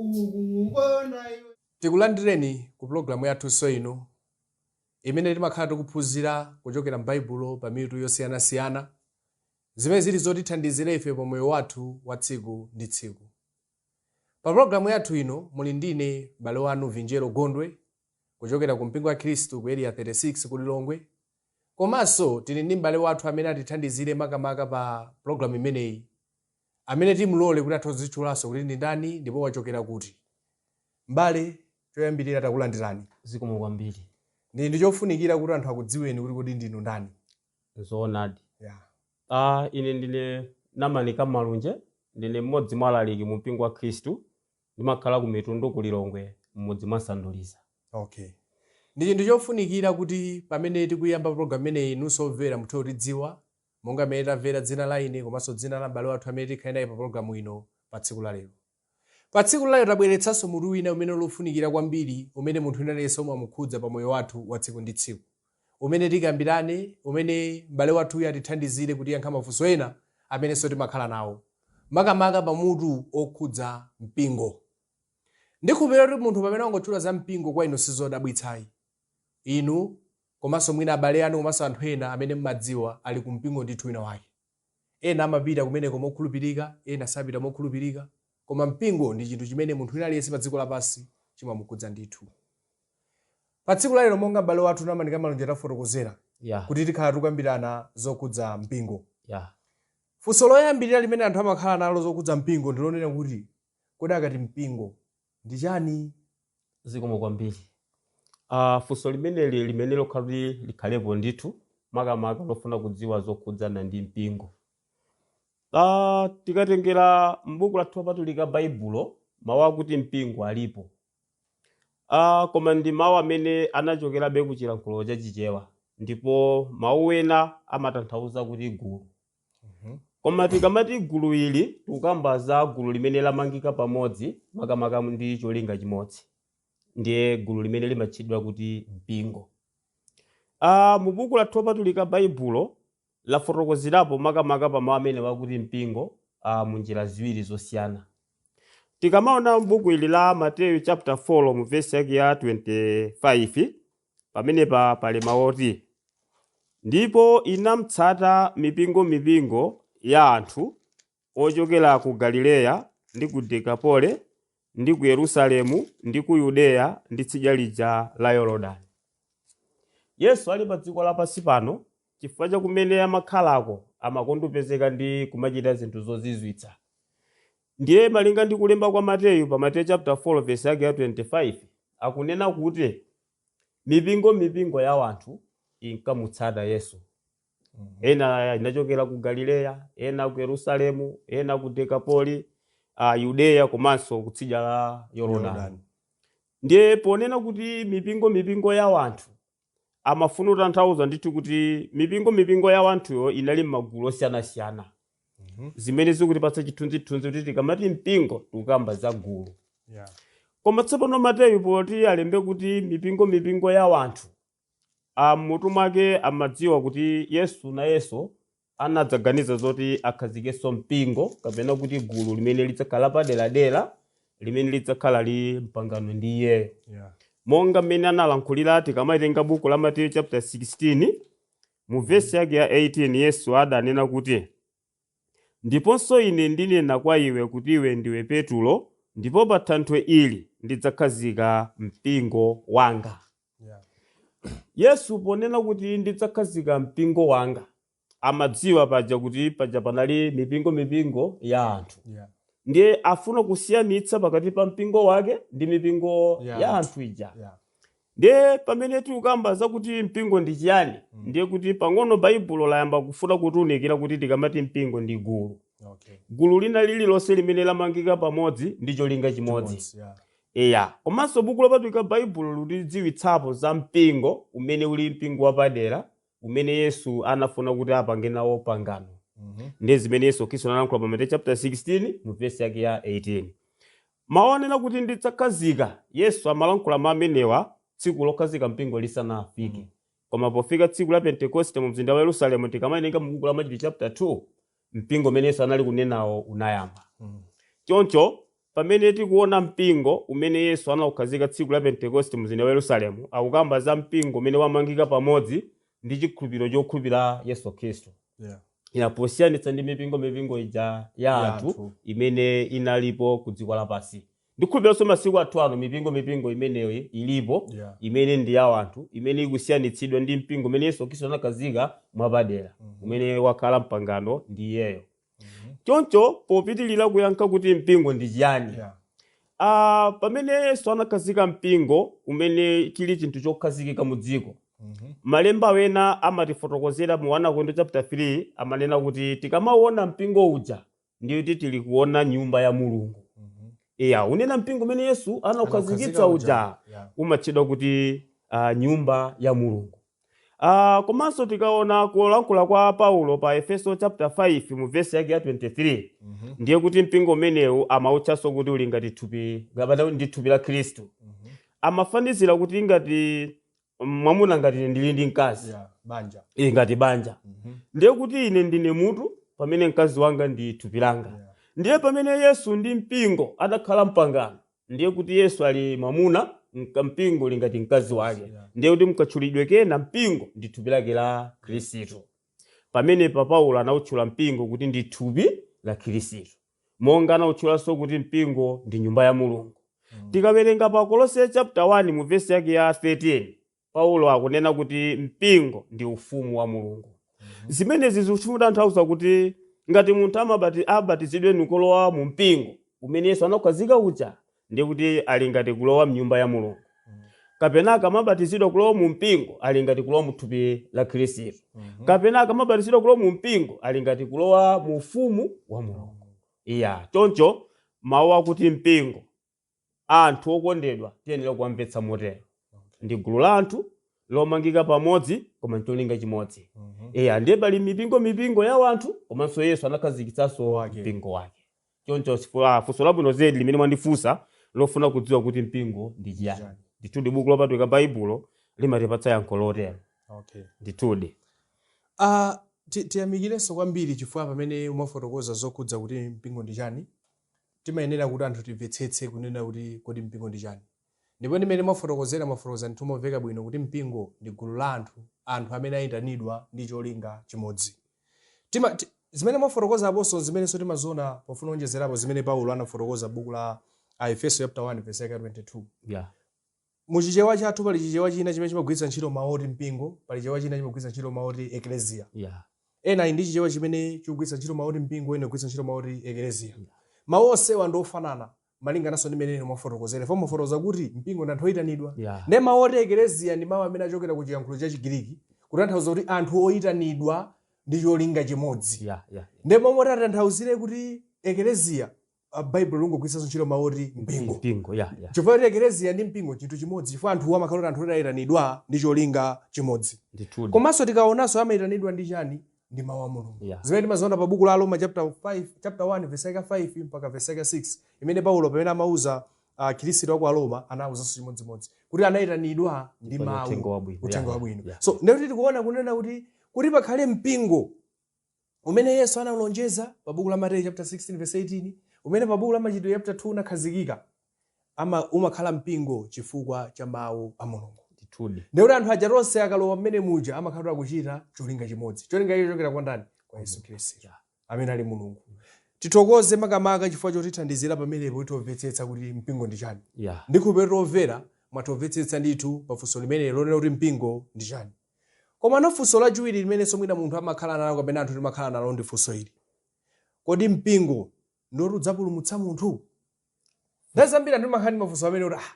ukuwona iwe tikulandireni ku pulogalamu yathunso ino imene timakhala tikuphunzira kuchokera m'baibulo pa mitu yosiyanasiyana zimene zili zotithandizira ife pa moyo wathu wa tsiku ndi tsiku pa pulogalamu yathu ino muli ndine m'bale wanu vinjeru gondwe kuchokera ku mpingo wa khristu ku area 36 ku lilongwe komanso tili ndi m'bale wathu amene atithandizire makamaka pa pulogalamu imeneyi amene timlole kuti athe kudzitchulanso kuti ndi ndani ndipo wachokera kuti. M'bale, choyambirira takulandirani. Zikomo kwambiri. Ndi, ndi chofunikira kuti anthu akudziweni kuti kodi ndinu ndani. Zoonadi. Yeah. Ah, ine ndine Namani Kamalunje, ndine mmodzi mwa alaliki mu mpingo wa Khristu. Ndimakhala ku Mitundu ku Lilongwe, mmudzi mwa Sanduliza. Okay. Ndi chinthu chofunikira kuti pamene tikuyamba program imeneyi inunso omvera muthe kutidziwa Monga mmene mwamvera dzina la ine komanso dzina la m'bale wathu amene tikhale naye pa pulogalamu ino pa tsiku la lero. Pa tsiku la lero tabweretsanso mutu wina umene uli wofunikira kwambiri umene munthu wina aliyense umamukhudza pa moyo wathu wa tsiku ndi tsiku. Umene tikambirane, umene m'bale wathuyu atithandizire kutiyankha mafunso ena amenenso timakhala nawo. Makamaka pa mutu okhudza mpingo. Ndikhulupirira kuti munthu pamene wangotchula za mpingo kwa inu sizodabwitsayi. Inu Komanso mwina abale anu komanso anthu ena amene mumadziwa ali ku mpingo ndithu wina wake. Ena amapita kumeneko mokhulupirika, ena sapita mokhulupirika, koma mpingo ndi chinthu chimene munthu wina aliyense padziko lapansi chimamukhudza ndithu. Pa tsiku la lero monga m'bale wathu Namani Kamalunje tafotokozera Yeah, kuti tikhala tikukambirana zokhudza mpingo. yeah. Funso loyambirira limene anthu amakhala nalo zokhudza mpingo ndi lonena kuti kodi akati mpingo ndi chani? Zikomo kwambiri. Ah, funso limeneli ndi loyenera kuti likhalepo ndithu, makamaka lofuna kudziwa zokhudzana ndi mpingo. Ah, tikatengera m'buku lathu lopatulika Baibulo, mawu akuti mpingo alipo. Ah, koma ndi mawu amene anachokerabe ku chilankhulo cha Chichewa, ndipo mawu ena amatanthauza kuti gulu. koma tikamati gulu ili tikukamba za gulu limene lamangika pamodzi makamaka ndi cholinga chimodzi ndiye gulu limeneli limatchedwa kuti mpingo ah, mu buku lathu lopatulika baibulo lafotokozerapo makamaka pa mawu amenewa akuti mpingo ah, mu njira ziwiri zosiyana tikamaona buku ili la mateyu chapter 4 mu vesi yake ya 25 Pamenepa pali mawu oti, Ndipo inamtsata mipingomipingo ya anthu ochokera ku Galileya ndi ku Dekapole ndi ku Yerusalemu ndi ku Yudeya ndi tsidya lija la Yorodani. Yesu ali padziko lapansi pano, chifukwa cha kumene amakhalako, amakonda kupezeka ndi kumachita zinthu zozizwitsa. Ndiye malinga ndi kulemba kwa Mateyu pa Mateyu chapter 4 verse yake ya 25, akunena kuti mipingo mipingo ya wanthu inkamutsata Yesu. Ena inachokera ku Galileya, ena ku Yerusalemu, ena ku Dekapoli, a Yudeya komanso kutsidya la Yorodani. Ndiye ponena kuti mipingo mipingo ya wanthu, amafuna kutanthauza ndithu kuti mipingo mipingo ya wanthuyo inali m'magulu osiyanasiyana zimene zikutipatsa chithunzithunzi kuti tikamati mpingo tikukamba za gulu Yeah. koma tsopano mateyu poti alembe kuti mipingo mipingo ya wanthu m'mutu mwake amadziwa kuti yesu nayenso anadzaganiza zoti akhazikenso mpingo kapena kuti gulu limene lidzakhala paderadera limene lidzakhala li mpangano ndi iyeyo Yeah. monga mmene analankhulira tikamaitenga buku la mateyu chapter 16 mu vesi yake ya 18 yesu adanena kuti ndiponso ine ndinena kwa iwe kuti iwe ndiwe petulo ndipo pa thanthwe ili ndidzakhazika mpingo wanga Yesu ponena kuti ndidzakhazika mpingo wanga amadziwa paja kuti paja panali mipingo mipingo ya anthu Yeah. ndiye afuna kusiyanitsa pakati pa mpingo wake ndi mipingo ya anthu ija Yeah. ndiye pamene tikukamba zakuti mpingo ndi chiyani ndiye kuti pang'ono baibulo layamba kufuna kutiunikira kuti tikamati mpingo ndi gulu Okay. gulu lina lililonse limene lamangika pamodzi ndi cholinga chimodzi Yeah. Eya, komanso Buku Lopatulika Baibulo lutidziwitsapo za mpingo umene uli mpingo wapadera umene Yesu anafuna kuti apange nawo pangano. Ndi zimene Yesu Khristu analankhula pa Mateyu chapter 16 mu verse yake ya 18. Mawu onena kuti ndidzakhazika, Yesu amalankhula mawu amenewa tsiku lokhazika mpingo lisanafike. Koma pofika tsiku la Pentekoste mu mzinda wa Yerusalemu tikamawerenga mu buku la Machitidwe chapter 2, mpingo umene yesu anali kunenawo unayamba choncho pamene tikuona mpingo umene yesu anaukhazika tsiku la pentekoste mu mzinda wa yerusalemu akukamba za mpingo umene wamangika pamodzi ndi chikhulupiriro chokhulupira yesu khristu Yeah. inde posiyanitsa ndi mipingo mipingo ija ya anthu imene inalipo ku dziko lapansi Ndikhulupiriranso masiku athu ano mipingo mipingo imeneyo ilipo Yeah. imene ndi ya anthu imene ikusiyanitsidwa ndi mpingo umene Yesu Khristu anakhazika mwapadera umene wakhala mpangano ndi iyeyo. Choncho popitirira kuyankha kuti mpingo ndi chiyani? Yeah. Ah, pamene Yesu anakhazika mpingo umene chili chinthu chokhazikika mu dziko. Mhm. Malemba wena amatifotokozera mu 1 Akorinto chapter 3 amanena kuti tikamaona mpingo uja ndiye kuti tili kuona nyumba ya mulungu Mhm. eya unena mpingo umene yesu anaukhazikitsa anaukhazika uja Yeah. umatchedwa kuti uh, nyumba ya mulungu uh, komanso tikaona kulankhula kwa paulo pa efeso chapter 5 mu vesi yake ya 23 Mhm. ndiye kuti mpingo umenewu amautchanso kuti uli ngati thupi kapena ndi thupi la khristu Mhm. amafanizira kuti ngati mwamuna ngati ine ndili ndi mkazi eya banja ili ngati banja Mhm. ndiye kuti ine ndine mutu pamene mkazi wanga ndi thupi langa Yeah. ndiye pamene yesu ndi mpingo adakhala mpangano ndiye kuti yesu ali mwamuna mka- mpingo uli ngati mkazi wake Yeah. ndiye kuti mkatchulidwe kena mpingo ndi thupi lake la khristu pamenepa paulo anautchula mpingo kuti ndi thupi la khristu monga anautchulanso kuti mpingo ndi nyumba ya mulungu tikawerenga pa kolose chapter 1 mu vesi yake ya 13 paulo akunena kuti mpingo ndi ufumu wa mulungu zimenezi zikutanthauza kuti ngati munthu amabati- abatizidwe nkulowa mu mpingo umene yesu anakhazika uja ndiye kuti ali ngati kulowa mnyumba ya mulungu kapena akamabatizidwa kulowa mu mpingo ali ngati kulowa mu thupi la khristu kapena akamabatizidwa kulowa mu mpingo ali ngati kulowa mu ufumu wa mulungu eya choncho mawu akuti mpingo anthu okondedwa tiyenera kuwamvetsa motero ndi gulu la anthu lomangika pamodzi koma ncholinga chimodzi eya ndiye pali mipingo mipingo ya wanthu komanso yesu anakhazikitsanso Wake. mpingo wake choncho sifu- ah, funso labwino zedi limene mwandifunsa lofuna kudziwa kuti mpingo ndi chiyani Chiyani. ndithudi buku lopatulika baibulo limatipatsa yankho lotero okay ndithudi Ah, ti- tiyamikirenso kwambiri chifukwa pamene mwafotokoza zokhudza kuti mpingo ndi chani timayenera kuti anthu timvetsetse kunena kuti kodi mpingo ndi chani Ndipo ndi mmene mwafotokozera, mwafotokoza ndithu momveka bwino kuti mpingo ndi gulu la anthu, anthu amene ayitanidwa ndi cholinga chimodzi. Tima, ti, zimene mwafotokoza aponso n'zimenenso timaziona pofuna kuonjezerapo zimene Paulo anafotokoza m'buku la Aefeso chapter 1 verse yake ya 22. Yeah. Mu Chichewa chathu pali Chichewa china chimene chimagwiritsa ntchito mawu oti mpingo, pali Chichewa china chimagwiritsa ntchito mawu oti eklesia. Yeah. Ena ali ndi Chichewa chimene chikugwiritsa ntchito mawu oti mpingo, ena kugwiritsa ntchito mawu oti eklesia. Mawu onsewa ndi ofanana. malingananso ndi mmene inu mwafotokozera pomwe mwafotokoza kuti mpingo ndi anthu oyitanidwa Yeah. ndiye mawu oti ekeleziya ndi mawu amene achokera ku chiyankhulo cha chigiriki kutanthauza kuti anthu oyitanidwa ndi cholinga chimodzi Yeah, yeah. ndi momwe tatanthauzire kuti ekeleziya ah, baibulo lingogwiritsanso ntchito mawu oti mpingo Mpingo, yeah, yeah. chifukwa kuti ekeleziya ndi mpingo chinthu chimodzi chifukwa anthu amakhala kuti anthu oyitanidwa ndi cholinga chimodzi Ndithudi. komanso tikaonanso amayitanidwa ndi chani ndi mawu a mulungu Yeah. zimene timaziona pa buku la aroma chapter 1 verse yake 5 mpaka verse yake 6 imene paulo pamene amauza akhristu a ku aroma anawuzanso chimodzimodzi kuti anayitanidwa ndi Ndipo ni mawu uthenga wabwino. uthenga Yeah, wabwino yeah. so ndikuti tikuona kunena kuti kuti pakhale mpingo umene yesu analonjeza pa buku la mateyu chapter 16 verse 18 umene pa buku la machitidwe chapter 2 unakhazikika ama, umakhala mpingo chifukwa cha mawu a Mulungu. Ndithudi. Ndiye kuti anthu aja tonse akalowa mmene muja amakhala kuti akuchita cholinga chimodzi. Cholinga icho chochokera kwa ndani? Kwa Yesu Khristu. Yeah. Amene ali Mulungu. Tithokoze makamaka chifukwa chotithandizira pamenepo kuti timvetsetse kuti mpingo ndi chani. Yeah. Ndikhulupirira kuti omvera mwamvetsetsa ndithu pa funso limenelo lonena kuti mpingo ndi chani. Komano funso lachiwiri limenenso mwina munthu amakhala nalo kapena anthu timakhala nalo ndi funso ili. Kodi mpingo ndi oti udzapulumutsa munthu nthawi zambiri anthu timakhala ndi mafunso amenewo oti ah,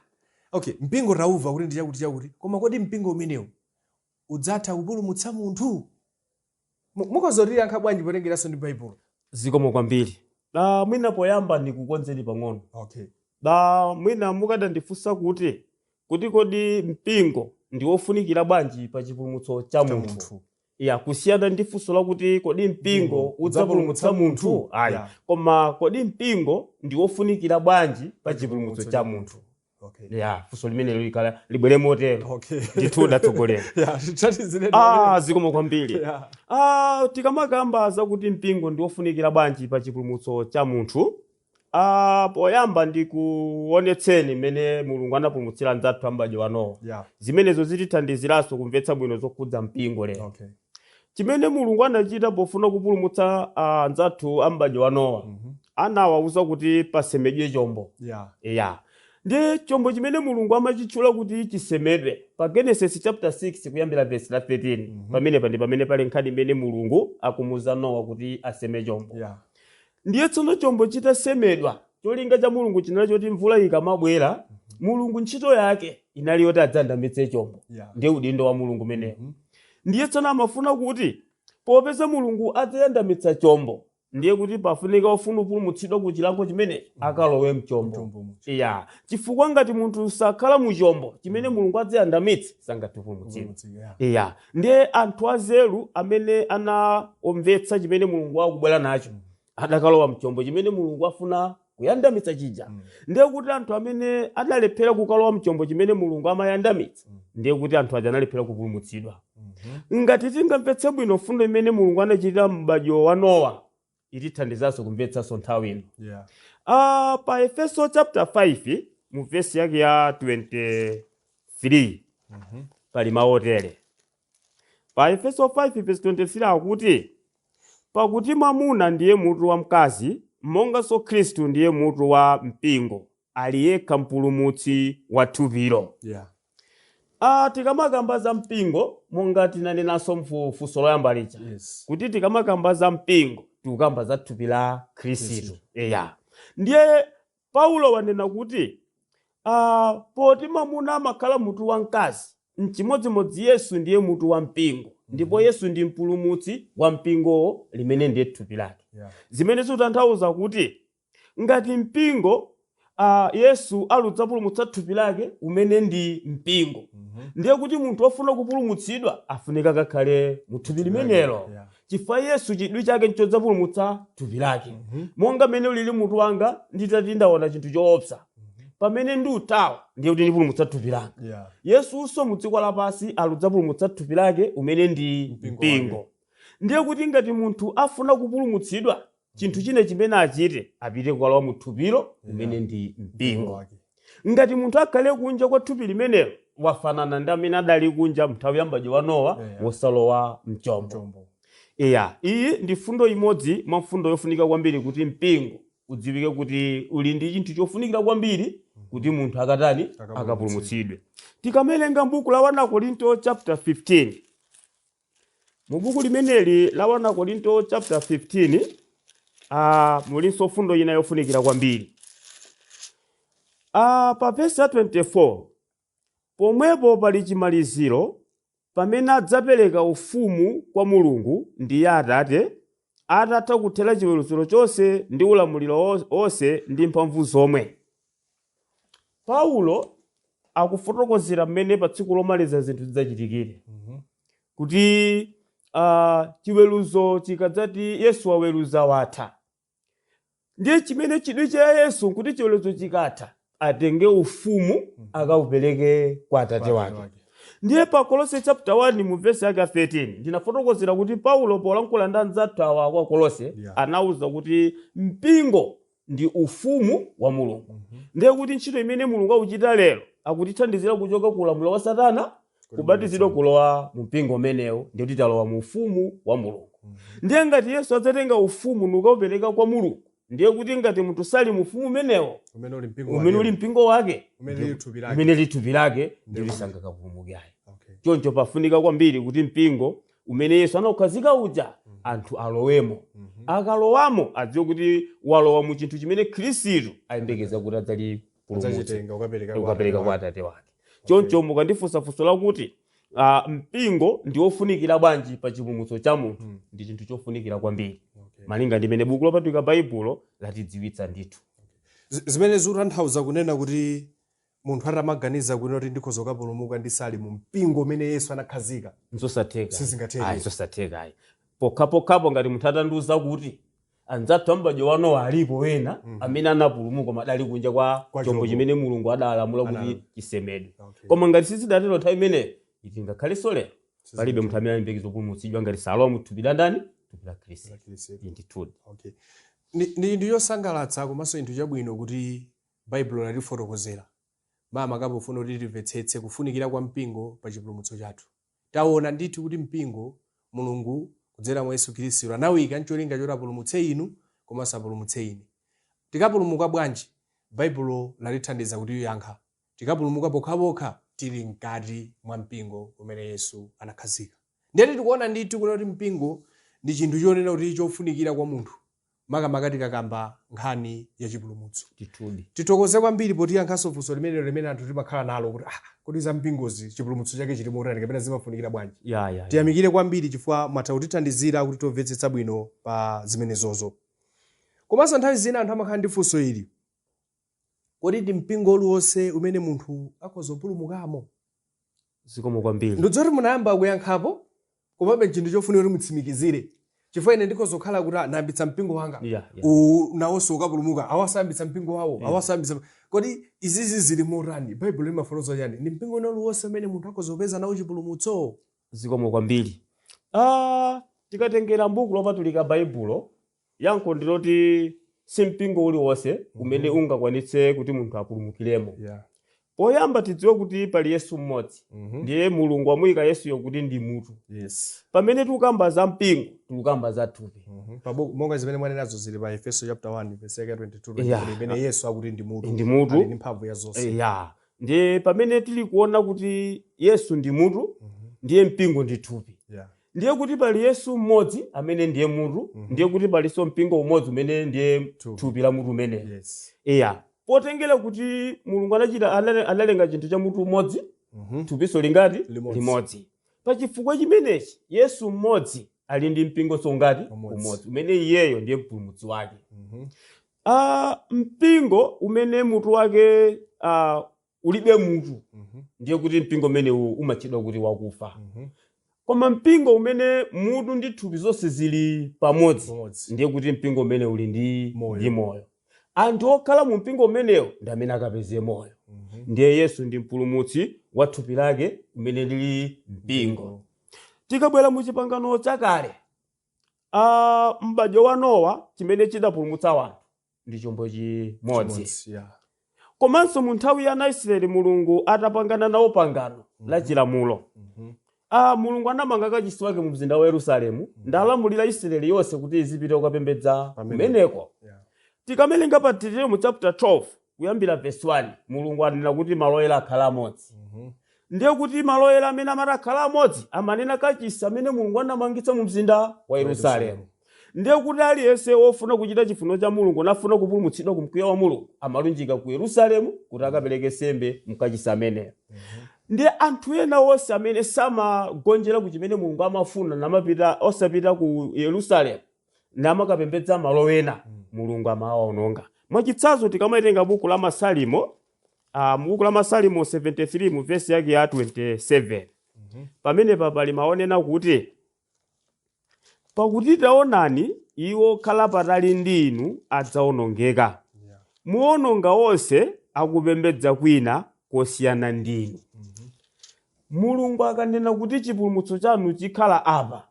okay mpingo taumva kuti ndi chakuti chakuti koma kodi mpingo umenewu udzatha kupulumutsa munthu Mu- mukhoza kutiyankha bwanji potengeranso ndi baibulo zikomo kwambiri na mwina poyamba ndikukonzeni pang'ono okay na mwina mukadandifunsa kuti kuti kodi mpingo ndi wofunikira bwanji pa chipulumutso cha munthu ya kusiyana ndi funso lakuti kodi mpingo udzapulumutsa munthu ayi Yeah. koma kodi mpingo ndi wofunikira bwanji pa chipulumutso cha munthu Okay. ya funso limenelo likhale libwere motero Okay. ndithu tatsogolani Yeah, tithandizireni. ah zikomo kwambiri Yeah. ah tikamakamba zakuti mpingo ndi wofunikira bwanji pa chipulumutso cha munthu Ah, poyamba ndikuonetseni mmene mulungu anapulumutsira anzathu a m'badwo wa nowa Yeah. zimenezo zitithandiziranso kumvetsa bwino zokhudza mpingo lero Okay. chimene mulungu anachita pofuna kupulumutsa ah, anzathu a m'badwo wa nowa Mhm. anawawuza kuti pasemedwe chombo Yeah. ya ndi chombo chimene mulungu amachitchula kuti chisemedwe pa genesis chapter 6 kuyambira verse la 13 Mhm. pamenepa ndi pamene pali nkhani imene mulungu akumuuza nowa kuti aseme chombo Yeah. Ndiye tsono chombo chitasemedwa, cholinga cha Mulungu chinali choti mvula ikamabwera, Mulungu ntchito yake inali yoti adzayandamitse chombo. Yeah. Ndiye udindo wa Mulungu umenewo. Mhm. Ndiye tsono amafuna kuti popeza Mulungu adzayandamitsa chombo, ndiye kuti pafunika ofuna kupulumutsidwa ku chilango chimenechi akalowe mchombo. Mchombo muja. Iya, chifukwa ngati munthu sakhala mu chombo chimene Mulungu adzayandamitse sangathe kupulumutsidwa. Mulungu, yeah. Iya, Ndiye anthu anzeru amene anamvetsa chimene Mulungu akubwera nacho adakalowa mchombo chimene Mulungu afuna kuyandamitsa chija. Ndiye kuti anthu amene adalephera kukalowa mchombo chimene Mulungu amayandamitsa, ndiye kuti anthu aja analephera kupulumutsidwa. Ngati tingamvetse bwino mfundo imene Mulungu anachitira mu m'badwo wa Nowa, itithandizanso kumvetsanso nthawi ino Yeah. Ah, pa efeso chapter 5 mu vesi yake ya 23 pali mawu otere pa efeso 5 vesi 23 akuti pakuti mwamuna ndiye mutu wa mkazi monganso khristu ndiye mutu wa mpingo ali yekha mpulumutsi wa thupilo yeah. Ah, tikamakamba za mpingo monga tinanenanso mfu- funso loyamba lija yes. kuti tikamakamba za mpingo tikukamba za thupi la khristu Khristu. eya ndiye paulo wanena kuti ah, poti mamuna amakhala mutu wa mkazi mchimodzimodzi yesu ndiye mutu wa mpingo ndipo yesu ndi mpulumutsi wa mpingowo limene ndiye thupi lake yeah. zimene zikutanthauza kuti Ngati mpingo, a, Yesu ali kudzapulumutsa thupi lake, umene ndi mpingo, ndiye kuti munthu wofuna kupulumutsidwa afunika akakhale mu thupi limenelo. Yeah. Chifukwa Yesu chidwi chake nchodzapulumutsa thupi lake. Monga mmene ulili mutu wanga nditati ndaona chinthu choopsa. Pamene ndikuthawa ndiye kuti ndipulumutsa thupi langa. Yeah. Yesunso mu dziko lapansi ali kudzapulumutsa thupi lake umene ndi Mpingo mpingo. wake. Ndiye kuti ngati munthu afuna kupulumutsidwa chinthu china chimene achite apite kukalowa mu thupilo umene ndi mpingo wake ngati munthu akhale kunja kwa thupi limenelo wafanana ndi amene adali kunja mnthawi ya m'badwo wa nowa Yeah. wosalowa mchombo chombo iya iyi ndi mfundo imodzi mwa mfundo yofunika kwambiri kuti mpingo udziwike kuti uli ndi chinthu chofunikira kwambiri kuti munthu akatani Akapulumutsidwe. akapulumutsidwe tikamelenga mbuku la 1 korinto chapter 15 Mu buku limeneli la 1 Akorinto chapter 15 ah, mulinso mfundo ina yofunikira kwambiri ah, pa vesi ya 24 pomwepo pali chimaliziro pamene adzapereka ufumu kwa mulungu ndiye atate atatha kuthera chiweruziro chonse ndi ulamuliro wo- wonse ndi mphamvu zomwe Paulo akufotokozera mmene pa tsiku lomaliza zinthu zidzachitikire kuti uh, chiweruzo chikadzati yesu waweruza watha ndiye chimene chidwi cha yesu nkuti chiweruzo chikatha atenge ufumu akaupereke kwa atate wake ndiye pa kolose chapter 1 mu vesi yake ya 13 ndinafotokozera kuti paulo polankhula ndi anzathu awa ku akolose Yeah. anauza kuti mpingo ndi ufumu wa mulungu Mhm. ndiye kuti ntchito imene mulungu akuchita lero akutithandizira kuchoka ku ulamuliro wa satana kubatizidwa kulowa mu mpingo umenewo ndiye kuti talowa mu ufumu wa mulungu Mhm. ndiye ngati yesu adzatenga ufumu nukaupereka kwa mulungu ndiye kuti ngati munthu sali mu ufumu umenewo umene uli mpingo umene wake. uli mpingo wake umene lili thupi lake umene lithupi lake Ndiye ndili kuti- sangakapulumuke ayi Okay. choncho pafunika kwambiri kuti mpingo umene yesu anaukhazika uja anthu alowemo akalowamo adziwe kuti walowa mu chinthu chimene khristu ayembekeza kuti adzachipulumutsa adzachitenga ukapereka kwa ukapereka kwa Atate atate wake choncho mukandifunsa funso lakuti ah, mpingo ndi wofunikira bwanji pa chipulumutso cha munthu Mm. ndi chinthu chofunikira kwambiri Okay. malinga ndimene buku lopatulika baibulo latidziwitsira ndithu Z- zimene zikutanthauza kunena kuti Munthu atamaganiza kunena kuti ndikhoza kukapulumuka ndisali mu mpingo umene Yesu anakhazika, nzosatheka Sizingatheke. ayi zosatheka ayi pokhapokhapo ngati munthu atandiuza kuti anzathu a m'badwo wa Nowa alipo wena amene anapulumuka koma adali kunja kwa Kwa chombo chombo. chimene mulungu adalamula kuti Analamula. chisemedwe Okay. koma ngati sizidatero nthawi imeneyo ndiye kuti ngakhalenso lero palibe munthu amene aliyembekeza kupulumutsidwa ngati salowa mu thupi la ndani thupi la khristu Khristu. ndithudi Okay. Ndi ndi chinthu chosangalatsa komanso chinthu chabwino kuti Baibulo latifotokozera makamaka pofuna kuti timvetsetse kufunikira kwa mpingo pa chipulumutso chathu. Taona ndithu kuti mpingo, Mulungu kudzera mwa Yesu Khristu anawuyika n'cholinga choti apulumutse inu komanso apulumutse ine. Tikapulumuka bwanji? Baibulo latithandiza kutiyankha. Tikapulumuka pokhapokha tili mkati mwa mpingo umene Yesu anakhazika. Ndiyetu tikuona ndithu kunena kuti mpingo ndi chinthu chonena kuti chofunikira kwa munthu makamaka tikakamba nkhani ya chipulumutso ndithudi tithokoze kwambiri potiyankhanso funso limenelo limene anthu timakhala nalo kuti ah, kodi za mpingozi chipulumutso chake chili motani kapena zimafunikira bwanji ya ya, ya. tiyamikire kwambiri chifukwa mwatha kutithandizira kuti timvetsetse bwino pa zimenezozo komanso nthawi zina anthu amakhala ndi funso ili Kodi ndi mpingo uliwonse umene munthu akhoza kupulumukamo? Zikomo kwambiri. Ndikudziwa kuti munayamba kuyankhapo, komabe n'chinthu chofunika kuti mutsimikizire. Chifukwa ine ndikhoza kukhala kuti ah, ndayambitsa mpingo wanga, Yeah, yeah. uwu nawonso ukapulumuka, awanso ayambitsa mpingo wawo, awa sayambitsa. Kodi izizi zili motani? Baibulo limafotokoza chani? Ndi mpingo wina uliwonse umene munthu akhoza kupeza nawo chipulumutso? Zikomo kwambiri. Ah, tikatengera m'buku lopatulika Baibulo, Yankho ndi loti si mpingo uliwonse umene Mhm. ungakwanitse kuti munthu apulumukiremo. Yeah. Poyamba tidziwe kuti pali Yesu mmodzi, Mhm. ndiye Mulungu wamuyika Yesuyo kuti ndi mutu. Yes. Pamene tikukamba za mpingo, tikukamba za thupi. Mhm. Pabu- monga zimene mwanenazo zili pa efeso chapter 1 verse yake 22 Yeah. 23, pamene yesu akuti ndi mutu Ndi mutu. ali ndi mphamvu ya zonse Eh, ya ndiye pamene tili kuona kuti Yesu ndi mutu, Mhm. ndiye mpingo ndi thupi. Yeah. ndiye kuti pali yesu mmodzi amene ndiye mutu Mhm. ndiye kuti palinso mpingo umodzi umene ndiye Thupi. thupi la mutu umeneyo yes iya potengera kuti mulungu anachita anale- analenga chinthu cha mutu umodzi Mhm. thupinso lingati Limodzi. limodzi pa chifukwa chimenechi yesu mmodzi ali ndi mpingonso ungati Umodzi. umodzi umene iyeyo ndiye mpulumutsi wake Mhm. Ah, mpingo umene mutu wake ah, ulibe mutu Mhm. ndiye kuti mpingo umenewu umatchedwa kuti wakufa Mhm. koma mpingo umene mutu ndi thupi zonse zili pamodzi Pamodzi. ndiye kuti mpingo umenewu uli ndi Moyo. ndi moyo anthu okhala mu mpingo umenewo ndi amene akapeze moyo Mhm. ndiye yesu ndi mpulumutsi wa thupi lake umene uli mpingo tikabwera mu chipangano chakale ah m'badwo wa nowa chimene chidapulumutsa wanthu ndi chombo chimodzi Chimodzi, yeah. komanso mu nthawi ya ana a israeli mulungu atapangana nawo pangano la chilamulo Mhm. ah, mulungu anamanga kachisi wake mu mzinda wa yerusalemu n'kulamulira israeli yonse kuti izipita kukapembedza Pamene. kumeneko Yeah. tikamawerenga pa Deuteronomy chapter 12 kuyambira verse 1 mulungu ananena kuti malo oyera akhale amodzi Mhm. ndiye kuti malo oyera amene amati akhale amodzi amanena kachisi amene mulungu anamangitsa mu mzinda wa yerusalemu ndiye kuti aliyense wofuna kuchita chifuniro cha mulungu nafuna kupulumutsidwa ku mkwiyo wa mulungu amalunjika ku yerusalemu kuti akapereke nsembe mkachisi ameneyo ndiye anthu ena onse amene samagonjera ku chimene mulungu amafuna namapita osapita ku yerusalemu namakapembedza malo ena mulungu amawaononga mwachitsanzo tikamawerenga buku la masalimo Ah, mu buku la masalimo 73 mu vesi yake ya 27 pamenepa pali mawu onena kuti pakuti taonani iwo okhala patali ndi inu adzaonongeka muononga onse akupembedza kwina kosiyana ndi inu mulungu akanena kuti chipulumutso chanu chikhala apa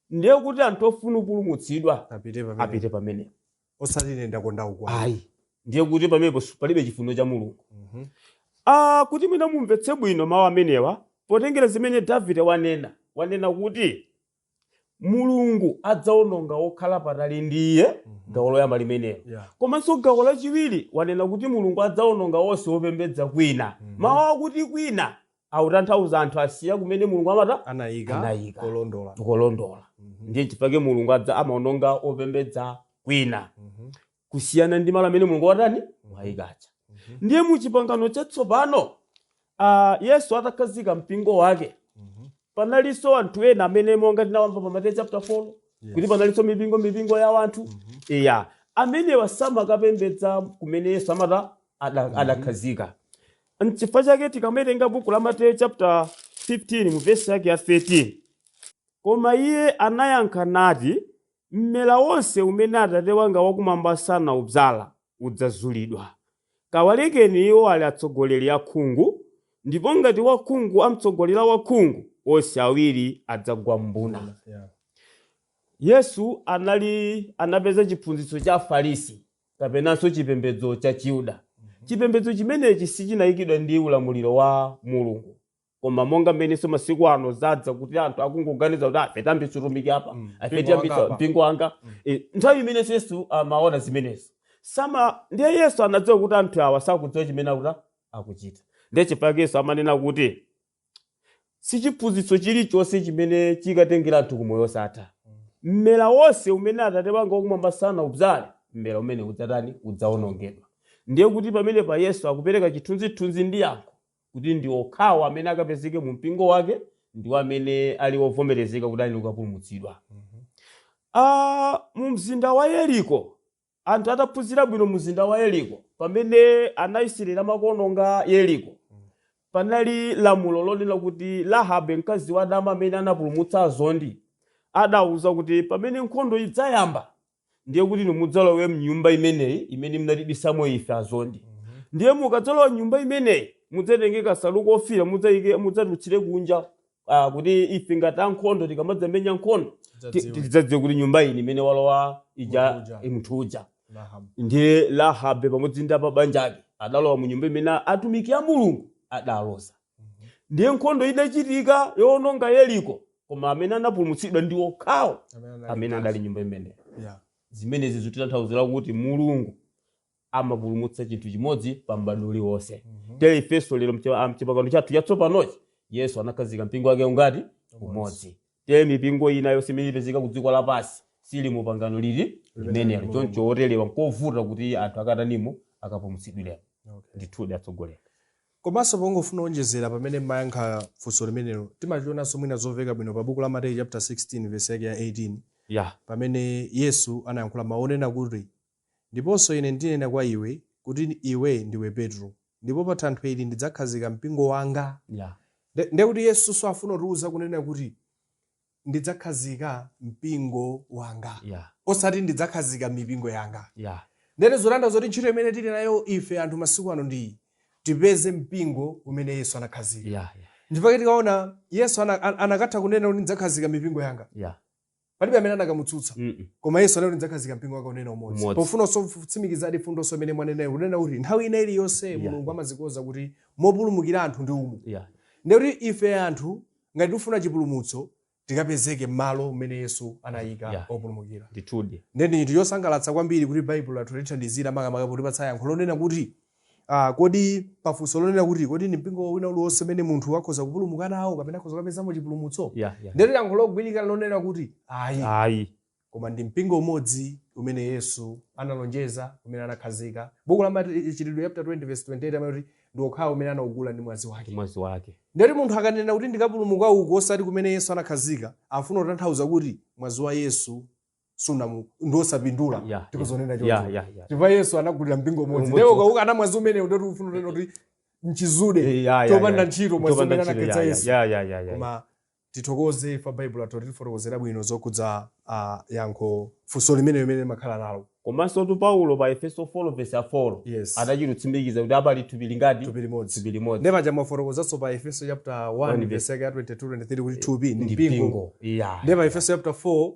ndiye kuti anthu ofuna kupulumutsidwa apite pamene apite pamenepo osati ine ndakonda uku ayi ndiye kuti pamenepo si- palibe chifuniro cha mulungu Mhm. Ah, kuti mwina mumvetse bwino mawu amenewa potengera zimene davide wanena wanena kuti mulungu adzaononga okhala patali ndi iye Mhm. gawo loyamba limenelo Yeah. komanso gawo lachiwiri wanena kuti mulungu adzaononga onse opembedza kwina Mhm. mawu akuti kwina akutanthauza anthu asiya kumene mulungu amata anayika Anayika. kolondola tikolondola Mhm. ndiye chifukwa chake mulungu adza amaononga opembedza kwina Mhm. kusiyana ndi malo amene mulungu watani wayika Mhm. ndiye mu chipangano chatsopano ah, yesu atakhazika mpingo wake Mhm. panalinso anthu ena amene monga tinawamva pa mateyu chapter 4 Yes. kuti panalinso mipingo mipingo ya wanthu Mhm. iya amenewa samakapembedza kumene yesu amata ada- adakhazika N'chifukwa chake tikawerenga buku la Mateyu chapter 15 mu vesi yake ya 13, koma iye anayankha nati, mmera wonse umene Atate wanga wakumwamba sanaudzala udzazulidwa. Kawalekeni iwo ali atsogoleri akhungu, ndipo ngati wakhungu amtsogolera wakhungu, onse awiri adzagwa m'mbuna. Yeah. Yesu anali anapeza chiphunzitso cha Afarisi kapenanso chipembedzo cha chiyuda chipembedzo chimenechi sichinayikidwa ndi ulamuliro wa mulungu koma monga mmenenso masiku ano zadza kuti anthu akungoganiza kuti ife tiyambitsa utumiki apa Mm, ife mpingo tiyambitsa wanga apa. mpingo wanga Mm. Eh, nthawi imenenso yesu amaona zimenezo sama ndiye yesu anadziwa kuti anthu awa sakudziwa chimene akuta akuchita ndiye chifukwa yesu amanena kuti si chiphunzitso chilichonse chimene chikatengera anthu ku moyo wosatha mmera wonse umene atate wanga wakumwamba sanaubzale mmera umenewo udzatani udzawonongedwa ndiye kuti pamenepa yesu akupereka chithunzithunzi ndi yankho kuti ndi okhawo amene akapezeke mu mpingo wake ndiwo amene ali ovomerezeka kuti ali kukapulumutsidwa Ah, mu mzinda wa yeriko Anthu ataphunzira bwino mzinda wa Yeriko, pamene Anaisrayeli amakaononga Yeriko, panali lamulo lonena kuti Rahabe, mkazi wadama amene anapulumutsa azondi, adawauza kuti pamene nkhondo idzayamba, ndiye kuti inu mudzalowe m'nyumba imeneyi imene munatibisamo ife azondi. Ndiye mukadzalowa m'nyumba imeneyi, mudzatenge kansalu kofiira, mudzaike, mudzatulutsire kunja ah, kuti ife ngati ankhondo tikamadzamenya nkhondo ti- Tidzadziwe. tidzadziwe kuti nyumba iyi imene walowa ija Munthu uja. munthu uja Lahab. ndiye lahabe pamodzi ndi abanja ake adalowa mu nyumba imene atumiki a mulungu adaloza ndiye nkhondo idachitika yowononga yeriko koma amene anapulumutsidwa ndi okhawo Amene anali- amene adali nyumba imeneyo Yeah. zimenezi zikutanthauzira kuti mulungu amapulumutsa chinthu chimodzi pa m'badwo uliwonse tere ifenso lero mche- ah, mchipangano chathu chatsopanochi yesu anakhazika mpingo wake ngati umodzi tere mipingo ina yonse imene ipezeka ku dziko lapansi sili mu pangano lili limenelo choncho oterewa nkovuta kuti anthu akatani 'mo akapulumutsidwiremo Okay. ndithudi atsogoleri komanso pongofuna kuonjezera pamene mumayankha funso limenelo timachionanso mwina zomveka bwino pa buku la mateyu chapter 16 verse yake ya 18 ya pamene yesu anayankhula mawu onena kuti Ndiponso Ine ndinena kwa iwe, kuti iwe ndiwe Petro, ndipo pa thanthwe ili ndidzakhazika mpingo wanga. Ya. Ndi, ndiye kuti Yesu afuna kutiwuza kunena kuti, Ndidzakhazika mpingo wanga. Ya. Osati ndidzakhazika mipingo yanga. Ya. Ndiyeno zotanthauza kuti ntchito imene tili nayo ife anthu masiku ano ndi iyi, tipeze mpingo umene Yesu anakhazika. Ya. Ya. Ndipo tikaona Yesu ana, akanatha kunena kuti ndidzakhazika mipingo yanga. Ya. palibe amene akanamutsutsa mm -mm. koma yesu anati ndidzakhazika mpingo wanga kunena umodzi pofuna kutsimikizadi mfundonso imene mwanenayo kunena kuti nthawi ina iliyonse yeah. mulungu amazikonza kuti mopulumukira anthu ndi umu yeah. ndiye kuti ife anthu ngati tifuna chipulumutso tikapezeke m'malo umene yesu anayika yeah. opulumukira ndithudi nde ndi chinthu chosangalatsa kwambiri kuti baibulo lathu lithandizira makamaka potipatsa yankho lonena kuti Ah, kodi pafunso lonena kuti kodi ndi mpingo wina uliwonse umene munthu akhoza kupulumuka nawo kapena akhoza kukapezamo chipulumutso ya ya ndiye yankho logwirika lonena kuti ayi ayi koma ndi mpingo umodzi umene yesu analonjeza umene anakhazika buku la machitidwe chapter 20 verse 28 amati ndi okhawo umene anaugula ndi mwazi wake mwazi wake ndiye kuti munthu akanena kuti ndikapulumuka uko osati kumene yesu anakhazika afuna kutanthauza kuti mwazi wa yesu su ndi osapindula Yeah, yeah, tikuzinena yeah, choncho yeah, yeah. chifukwa yesu anagulira mpingo umodzi Umodzi. ndiye ukaukana mwazi umenewu ndiye kuti ufuna kunena kuti mchizude Eh, yeah, yeah, chopanda yeah. ntchito mwazi Chopanda umene ntchito, anakhetsa yeah, yesu yeah, yeah, yeah, yeah. koma tithokoze chifukwa baibulo latifotokozera bwino zokhudza ah, yankho funso limene limene timakhala nalo komansotu paulo pa efeso 4 vesi 4 yes adachitsimikiza kuti pali thupi lingati thupi limodzi thupi limodzi ndipo paja amafotokozanso pa efeso chapter 1 One verse yake ya 22 23 kuti thupi ndi mpingo mpingo yeah. ndi pa efeso chapter 4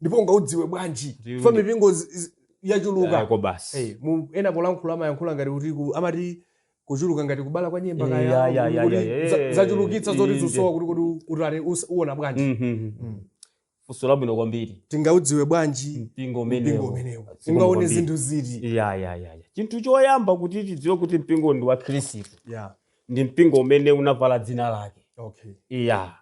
ndipo ungaudziwe bwanji Ndiyo, chifukwa ndi- mipingo zi- zi- yachuluka Ayako basi Eh, mu- ena polankhula amayankhula ngati kuti ku- amati kuchuluka ngati kubala kwa nyemba Eh, kaya, ya, ya, ya, kuti ya, ya, za- eh, zachulukitsa zoti inde. zikusowa kuti kuti kuti ali- us- uona bwanji Mhm. Mm. funso labwino kwambiri tingaudziwe bwanji mpingo mpingo umenewo umenewu Mpingo ungaone kwambiri. zinthu ziti ya ya ya ya chinthu choyamba kuti tidziwe kuti mpingo ndi wa khristu yeah ndi mpingo umene unavala dzina lake okay eya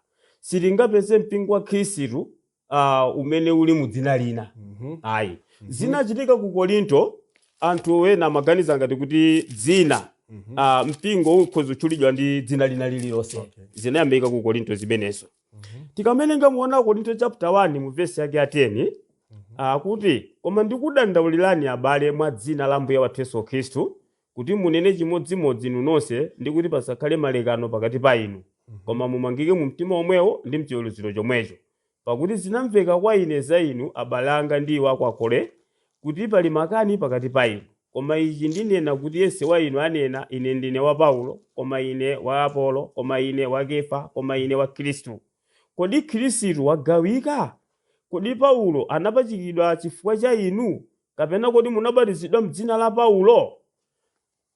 sitingapeze mpingo wa khristu uh, umene uli mu dzina lina Mhm. ayi Mhm. zinachitika ku korinto anthu ena amaganiza ngati kuti dzina Mhm. uh, mpingo ukhoza kutchulidwa ndi dzina lina lililonse Okay. zinayambika ku korinto zimenezo Mhm. tikawerenga mu 1 korinto chapter 1 mu vesi yake ya 10 akuti koma ndikudandaulirani abale mwa dzina la ambuye wathu yesu khristu kuti munene chimodzimodzi inu nonse, ndi kuti pasakhale malekano pakati pa inu, koma mumangike mu mtima womwewo ndi m'chiweruziro chomwecho. Pakuti zinamveka kwa ine za inu, abale anga ndi iwo a kwa Kloe, kuti pali makani pakati pa inu. Koma ichi ndinena, kuti yense wa inu anena, Ine ndine wa Paulo, koma ine wa Apolo, koma ine wa Kefa, koma ine wa Khristu. Kodi Khristu wagawika? Kodi Paulo anapachikidwa chifukwa cha inu? Kapena kodi munabatizidwa m'dzina la Paulo?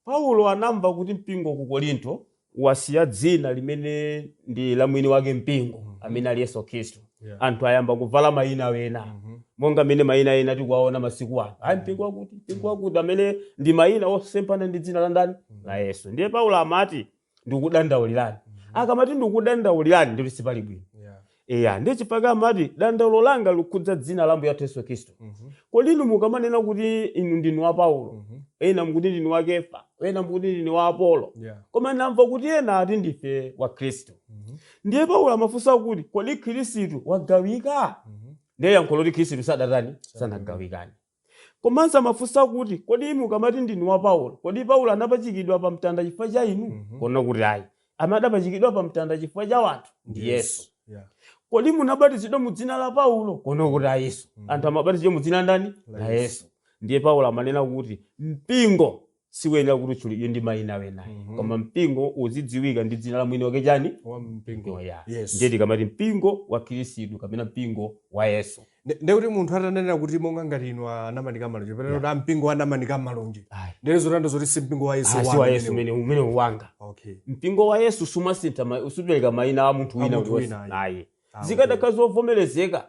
Paulo anamva kuti mpingo ku Korinto wasiya dzina limene ndi la mwini wake mpingo, amene ali Yesu Khristu. Yeah. Anthu ayamba kuvala mayina ena, monga mmene mayina ena tikuwaona masiku ano. Ayi mpingo wakuti, mpingo wakuti, amene ndi mayina osemphana ndi dzina la ndani? La Yesu. Ndiye Paulo amati, ndikudandaulirani akamati ndikudandaulirani ndiye kuti sipali bwino Yeah. eya ndiye chifukwa amati dandaulo langa likhudza dzina la ambuye wathu yesu khristu Mhm. kodi inu mukamanena kuti inu ndinu wa paulo Mhm. ena mukuti ndinu wa kefa ena mukuti ndinu wa apolo Yeah. koma ndamva kuti ena ati ndife wa khristu Mhm. ndiye paulo amafunsa kuti kodi khristu wagawika Mhm. ndiye yankho n'loti khristu sadatani sanagawikane Komanso amafunsa kuti, kodi inu mukamati ndinu wa Paulo, kodi Paulo anapachikidwa pa mtanda chifukwa cha inu? Mhm. Kuona kuti ayi. Amene adapachikidwa pa mtanda chifukwa cha anthu ndi Yesu. Yeah. Kodi munabatizidwa mu dzina la Paulo? Kuona kuti ayi Yesu. Mhm. Anthu amabatizidwa mu dzina ndani? La La Yesu. Yesu. Ndiye Paulo amanena kuti mpingo siuyenera kuti utchulidwe ndi mayina wena ayi Mhm. koma mpingo uzidziwika ndi dzina la mwini wake chani wa mpingo yoya Yes. ndiye tikamati mpingo wa khristu kapena mpingo wa yesu Nde- nde kuti munthu atanena kuti monga ngati inu anamanika malonje pena kuti mpingo wa anamanika malonje Ayi. ndiye zotanthauza zoti si mpingo wa yesu Ah, si wanu wa yesu umenewu. umene umene ndi wanga okay mpingo wa yesu sumasintha ma- superekedwa mayina a munthu A wina munthu uliwonse. wina, ayi. ayi Amen. zikadakhala zovomerezeka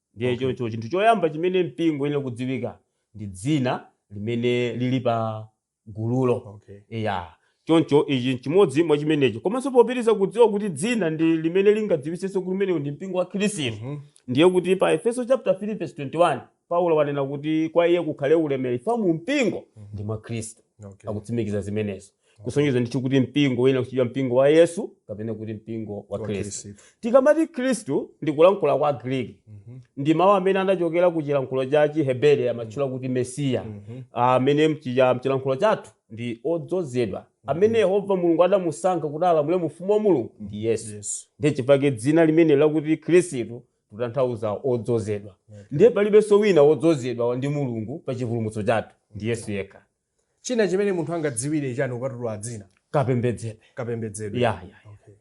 ndiye Okay. choncho chinthu choyamba chimene mpingo uyenera kudziwika ndi dzina limene lili pa gululo okay eya choncho ichi chimodzi mwa chimenecho komanso popitiriza kudziwa kuti dzina ndi limene lingadziwitsenso kuti umenewu ndi mpingo wa khristu Mhm. ndiye kuti pa aefeso chapter 3 verse 21 paulo wanena kuti kwa iye kukhale ulemerero mu mpingo ndi mwa khristu okay akutsimikiza zimenezo kusonyeza ndithu kuti mpingo uyenera kutchedwa mpingo wa yesu kapena kuti mpingo wa khristu tikamati khristu ndi kulankhula kwa chigriki ndi mawu amene anachokera ku chilankhulo cha chiheberi amatchula kuti mesiya amene mchiya- mchilankhulo chathu ndi odzozedwa amene yehova mulungu adamusankha kuti alamule mu ufumu wa mulungu ndi yesu Yes. ndiye chifukwa chake dzina limene lakuti khristu kutanthauza odzozedwa ndiye palibenso wina wodzozedwa ndi mulungu pa chipulumutso chathu ndi yesu yekha China chimene munthu angadziwire chani kupatula dzina? Kapembedzedwe. Kapembedzedwe. Ya, ya, ya. Okay.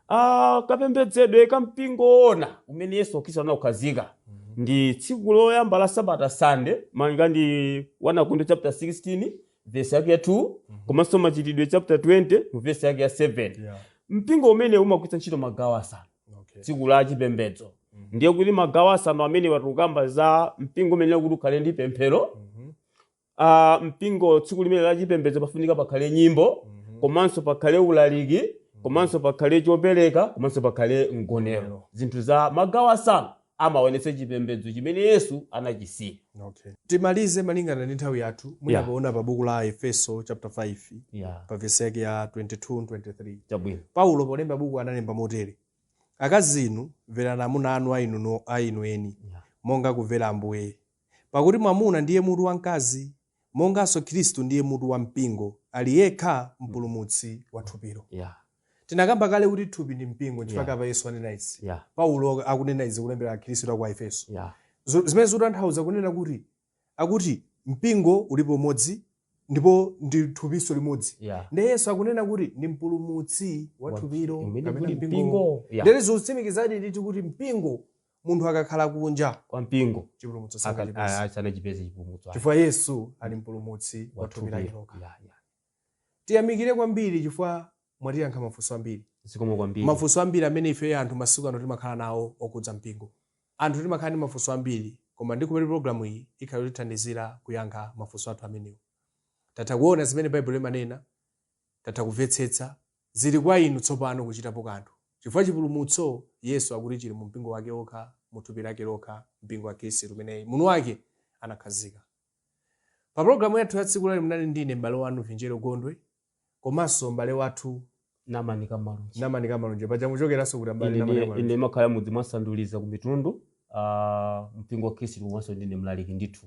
Ah, kapembedzedwe ka mpingo woona umene Yesu Khristu anaukhazikitsa ndi tsiku loyamba la sabata Sunday malinga ndi 1 Akorinto chapter 16 verse yake ya 2 komanso Machitidwe chapter 20 mu verse yake ya 7. Yeah. Mpingo umene umagwiritsa ntchito magawo asanu Okay. tsiku la chipembedzo ndiye kuti magawo asanu amene tikukamba za mpingo umene kuti ukhale ndi pemphero ah, mpingo tsiku limene la chipembedzo pafunika pakhale nyimbo komanso pakhale ulaliki komanso pakhale chopereka komanso pakhale mgonero zinthu za magawo asanu amaonetsa chipembedzo chimene yesu anachisiya okay. timalize malingana ndi nthawi yathu Yeah. munapaona pa buku la aefeso chapter 5 yeah. pa vesi yake ya 22 23 chabwino paulo polemba buku analemba motere akazi inu mverani amuna anu a inu no- a inu eni Yeah. monga kumvera ambuye Pakuti mwamuna ndiye mutu wa mkazi, monganso Khristu ndiye mutu wa mpingo, ali yekha mpulumutsi wa thupilo. Yeah. Tinakamba kale kuti thupi ndi mpingo nchifukwa Yeah. apa Yesu anena izi. Yeah. Paulo akunena izi kulembera Akhristu a ku Aefeso. Yeah. Zo- zimene zikutanthauza kunena kuti akuti mpingo ulipo umodzi ndipo ndi thupinso limodzi Yeah. ndiye yesu akunena kuti ndi mpulumutsi wa Wa- thupilo umene kapena kuli mpingo. mpingo. Yeah. ndiye zikutsimikizadi ndithu kuti mpingo munthu akakhala kunja kwa mpingo chipulumutso aka- sangachipeze a- sanachipeze chipulumutso ayi. chifukwa yesu ali mpulumutsi wa thupi lake Wathupi. lokha Ya, ya. tiyamikire kwambiri chifukwa mwatiyankha mafunso ambiri zikomo kwambiri mafunso ambiri amene ife anthu masiku ano timakhala nawo okudza mpingo anthu timakhala ndi mafunso ambiri koma ndikuti programu iyi ikhala yotithandizira kuyankha mafunso athu amenewo tatha kuona zimene baibulo limanena tatha kumvetsetsa Zili kwa inu tsopano kuchitapo kanthu, chifukwa chipulumutso Yesu akuti chili mu mpingo wake okha, mu thupi lake lokha, mpingo wa Khristu umene mwini wake anakhazika. Pa pologalamu yathu ya tsiku la lero munali ndine m'bale wanu Vinjero Gondwe komanso m'bale wathu Namani Kamalunji. Namani Kamalunji. Paja muchokeranso kuti m'bale Ine Namani ndiye- ine Kamalunji? ndimakhala mudzi mwa Sanduliza ku Mitundu ah, mpingo wa Khristu komanso ndine mlaliki ndithu.